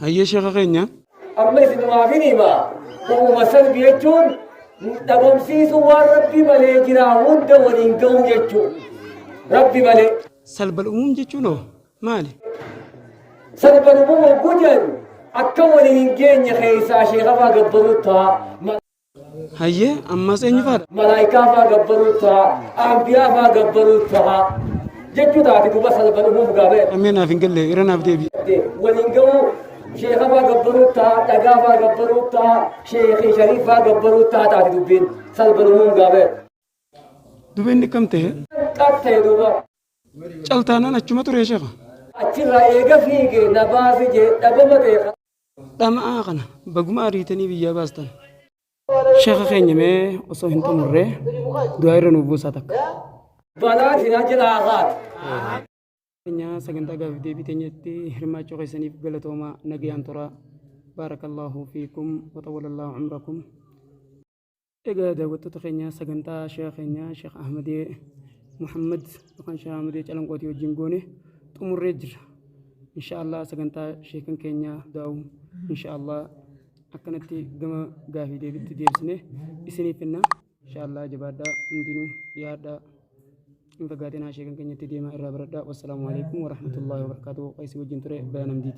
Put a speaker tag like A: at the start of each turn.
A: Hayyee
B: sheeka keenya. amma isinumaaf
A: hin hima ba'uma salbi jechuun dhabamsiisu waan rabbi malee jira hunda waliin ga'u jechuu rabbi malee Salbal umum
B: jechuun hoo maali?
A: salban umum hogguu jedhu akka waliin hin geenye keessaa sheekafaa gabbaruu ta'a
B: Hayyee ammas eenyu faadha? Malaayikaa faa gabbaruu
A: ta'a. Ambiyaa faa gabbaruu ta'a. Jechuu taati duuba salphan uumuuf gaafee. Ammee naaf hin galle irra
B: naaf deebi. Waliin ga'uu
A: sheeka faa gabbaruu ta'a. Dhagaa faa gabbaruu ta'a. Sheekii shariif faa gabbaruu ta'a taati dubbiin salphan uumuuf gaafee.
B: Dubeen dhikkam ta'e. Qas ta'e duuba.
A: Caltaanaan
B: achuma ture sheeka. Achirraa eega
A: fiige na baasi jee dhabama ta'e. Dhama'aa
B: kana baguma ariitanii biyyaa baastan. Sheekha keenya mee osoo hin xumurree du'aa irra nuuf buusaa takka. Balaa
A: jira jira har'aati.
B: Keenya sagantaa gaafii deebii teenyatti hirmaachuu keessaniif galatoomaa nagayaan turaa. Baarakallaahu fiikum wa xawwalallahu umrakum. Egaa daawwattoota keenya sagantaa sheeka keenya sheeka Ahmadee Muhammad yookaan sheeka Ahmadee Calanqootii wajjin goone xumurree jirra. Inshaallah sagantaa sheekan keenya daa'u inshaallah akkanatti gama gaafii deebitti deebisne isiniif finna. Inshaallah jabaadhaa hundinuu dhiyaadhaa. Hin fagaatinaa sheekan keenyatti deemaa irraa baradhaa. Wassalaamu alaikum warahmatullahi wabarakatuh. Qaysii wajjin ture bayan amdiiti.